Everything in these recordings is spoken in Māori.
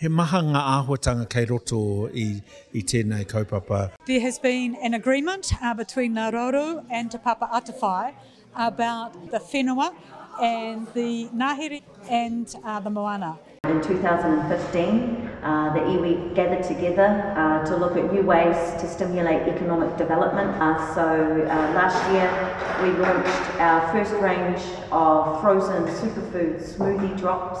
He maha ngā āhuatanga kei roto i tēnei kaupapa. There has been an agreement between Ngā Rauru and Te Papa Atawhai about the whenua and the ngahere and the moana. In 2015, the iwi gathered together to look at new ways to stimulate economic development. So last year we launched our first range of frozen superfood smoothie drops.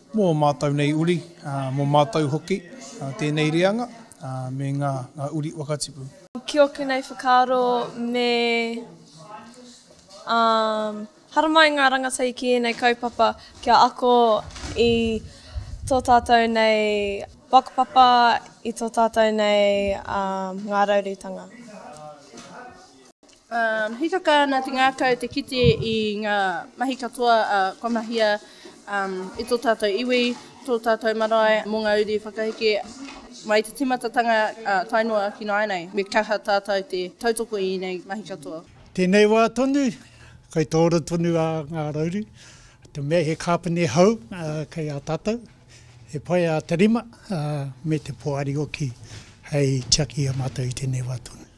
Mō ō mātou nei uri, mō mātou hoki tēnei reanga me ngā uri whakatipu. Ki ōku nei whakaaro me haramai ngā rangatahi ki ēnei kaupapa kia ako i tō tātou nei whakapapa, i tō tātou nei ngāraurutanga. Um, hīkaka ana te ngākau te kite i ngā mahi katoa a uh, kua mahia um, i tō tātou iwi, tō tātou marae mō ngā uri whakaheke mai te timatatanga uh, tae noa ki nāinei. Me kaha tātou te tautoko i nei mahi katoa. Tēnei wā tonu, kai tōra tonu a ngā rauru. Te mea he kāpene hou uh, kei a tātou, he pai a te rima uh, me te poari oki hei tiaki a mātou i tēnei wā tonu.